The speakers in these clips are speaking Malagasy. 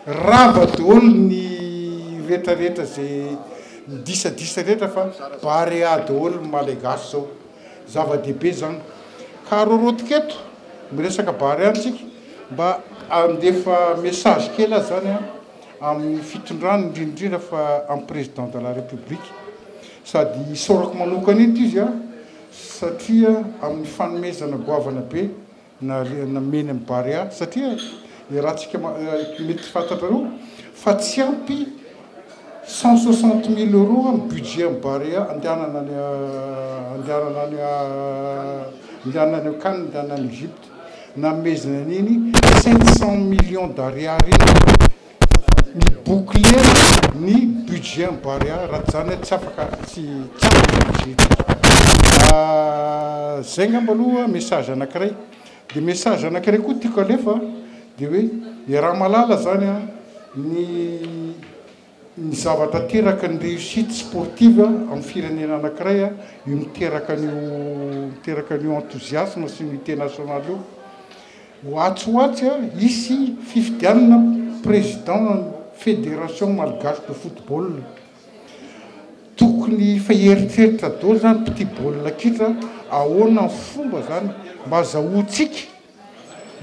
Rava dôly ny retra retra ze midisadisa retra fa barea dôly ny malegasy zao zava dehibe zan ka rorotika eto miresaka barea ntsika mba andefa message kely aza zany an aminy fitondrana indrindra indrindra fa am president de la republique sady isaorako manokana eto izy an satria aminy fanomezana goavana be na nomeny ny Barea satria iarahantsika mety fantatrareo fa tsy ampy cent soixante mille euros ny budget ny Barea andehanana any andehanana any andehanana any an-kany andehanana any Egypte nanomezana an'iny sept cent millions d'ariary iny mi-boucler ny budget an'i Barea raha tsy izany tsy afaka tsy tsy afaka ny budget ity. Izay angamba aloha message anankiray. Dia message anankiray koa tiako alefa dia hoe iaraha mahalala izany a ny ny zavatra teraka ny réussite sportive amin'ny firenena anankiray a io miteraka an'io miteraka an'io enthousiasme sy ny unité nationale io. Ho atsy ho atsy hisy fifidianana président an'ny Fédération Malgache de Football. Tokony efa hieritreritra daholo izany mpitia baolina kitra ahoana ny fomba izany mba hazahoantsika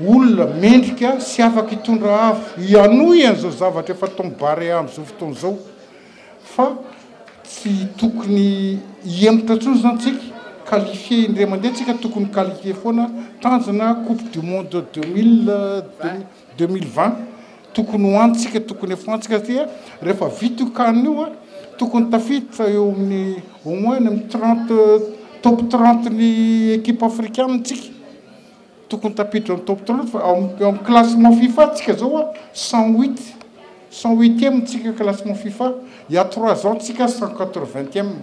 olona mendrika sy afaka hitondra avo hihanohy an'izao zavatra efa ataon'i Barea amin'izao fotoana izao. fa tsy tokony hihemotra intsony izany tsika, qualifier indray mandeha tsika tokony qualifier foana, tanjona coupe du monde deux mille deux mille vingt tokony ho any tsika tokony efa any tsika satria rehefa vita io can io a tokony tafiditra eo amin'ny au moins any amin'ny trente top trente ny equipe africanina tsika. Tokony tafiditra ny top tropes fa ao amin'ny classement fifa tsika zao a cent huit cent huitième tsika classement fifa il y'a trois ans tsika cent quatre vingtième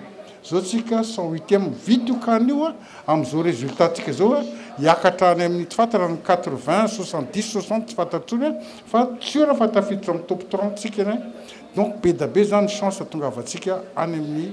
zao tsika cent huitième vita io can io a amin'izao résultat tsika zao a hiakatra any amin'ny tsy fantatra ny quatre vingt soixante dix soixante tsy fantatra tsony a fa sûr fa tafiditra amin'ny top trente tsika eny donc be da be zany chance tongavantsika any amin'ny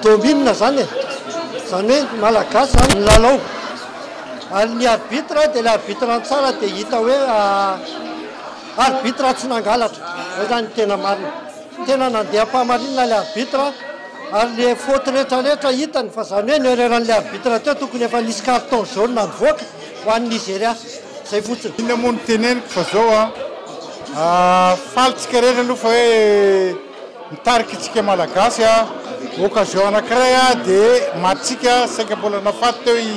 Domy inona zany e? Zany hoe ny malagasy zany milalao. Ary ny arbitre dia ilay arbitre an-tsara dia hita hoe arbitre tsy nangalatra. Zay zany ny tena marina. Tena nandeha am-pahamarinana ilay arbitre ary le faute rehetra rehetra hitany fa zany hoe ny erreur an'ilay arbitre teo tokony efa nisy carton jaune nivoaka ho an'i Nigeria. Zay fotsiny. Inona moa no teneniko fa zao an, faly tsika rehetra aloha fa hoe. Mitarika isika Malagasy occasion anankiray dia matintsika saika mbola nafaty teo i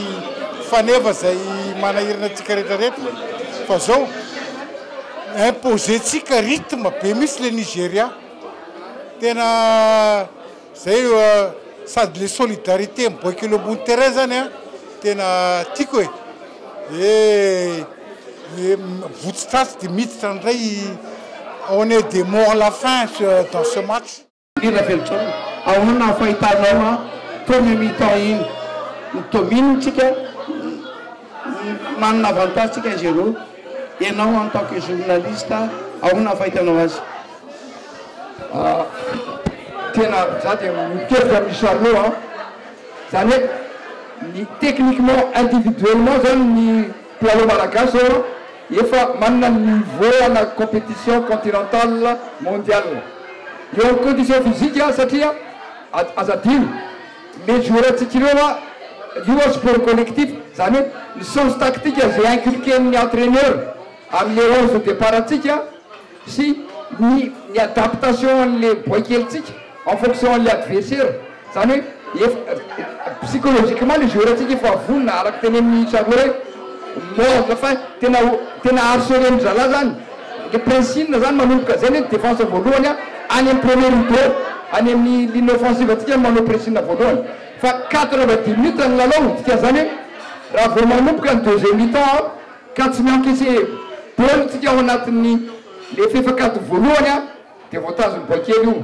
Faneva izay manahirana antsika rehetra rehetra fa zao imposer tsika rythme be mihitsy le Nigeria tena zay sady le solidarité miboaka eo ambony terrain zany tena tiako e! Ny votsy tratsy dia miditra indray. On est des morts la fin dans ce match. Ry Ravelontsôna, ahoana ny fahitanao an premier mi-temps iny? Domine tsika, manana avantage tsika izy roa. Enao en tant que journaliste, ahoana ny fahitanao azy? Tena za dia mitovy amin'i Charlot an, zany hoe ny techniquement individuellement zany ny. Mpilalao malagasy zao an efa manana ny niveau ana competition continental, mondial. Eo amin'ny condition physique an satria aza adino les joueurantsika ireo an io an sport collectif zany hoe ny sens tactique ze inculquer ny entraineur amin'ny le onze de depart antsika, sy ny ny adaptation an'le boaikelintsika en fonction an'le adversaire zany hoe efa psychologiquement le joueur ntsika efa vonona araka tenenin'i Charlot hoe mort fa tena ho tena harcelen'ny zalahy zany le princine zany manomboka zay ny defense voalohany a any amin'ny premier rideau any amin'ny ligne offensive antsika manao princine voalohany fa quatre va dix minutes ny lalao dikan'izany hoe raha vao manomboka ny deuxième mi-temps Ka tsy miankeseha daholo tsika ao anatin'ny lefefa kady voalohany a dia voatazon'ny boaikely io.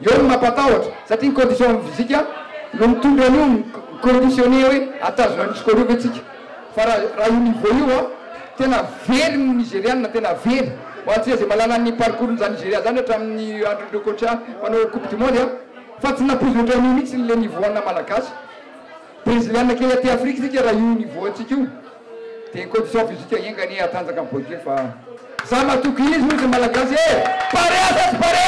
Eo ny mampatahotra satria ny condition physique no mitondra an'io mi-conditionner hoe atazona an'io score io ve tsika. Fa raha io niveau io a tena very ny Nigeriana, tena very. Ho antsika izay mahalala ny parcours n'izany Nigeria izany hatramin'ny andron'ireo coach mpanao coupe du monde a fa tsy nampoizy ohatran'io mihitsy le niveau ana Malagasy. Breziliana kely aty Afrika isika raha io niveau antsika io. Dia côte soif izy io ka enga anie hatanjaka ny boike fa za matoky izy hoy za malagasy eh! Barea sa tsy barea?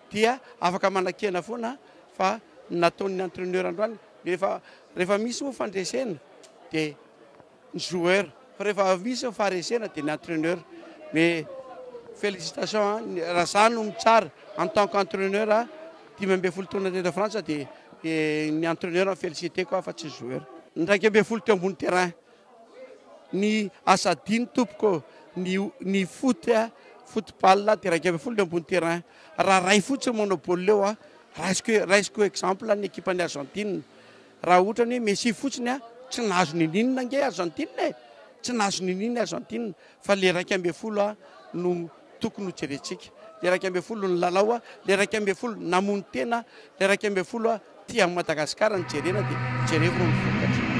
dia afaka manakena foana fa ny nataon'ny entraineur androany rehefa rehefa misy moa fandresena dia ny joueur fa rehefa misy ny faharesena dia ny entraineur mais félicitation raha za no mitsara en tant qu'entraineur dimy ambin'ny folo taona teto frantsa dia ny entraineur no féliciteko aho fa tsy ny joueur ny iraika ambin'ny folo teo ambony terrain Ny asa adino tompoko ô! Ny ny foot a, football a, dia iraika ambin'ny folo ny ambony terrain. Raha ray fotsiny manao baolina eo a, raisiko raisiko exemple ny ekipan'i Argentine. Raha ohatra ny hoe Messi fotsiny a, tsy nahazo niniana ange Argentine e! Tsy nahazo niniana Argentine. Fa le iraika ambin'ny folo a no tokony ho jerentsika, le iraika ambin'ny folo no lalao a, le iraika ambin'ny folo namono tena a, le iraika ambin'ny folo a tia an'i Madagasikara no jerena dia jereko ireo vokatra.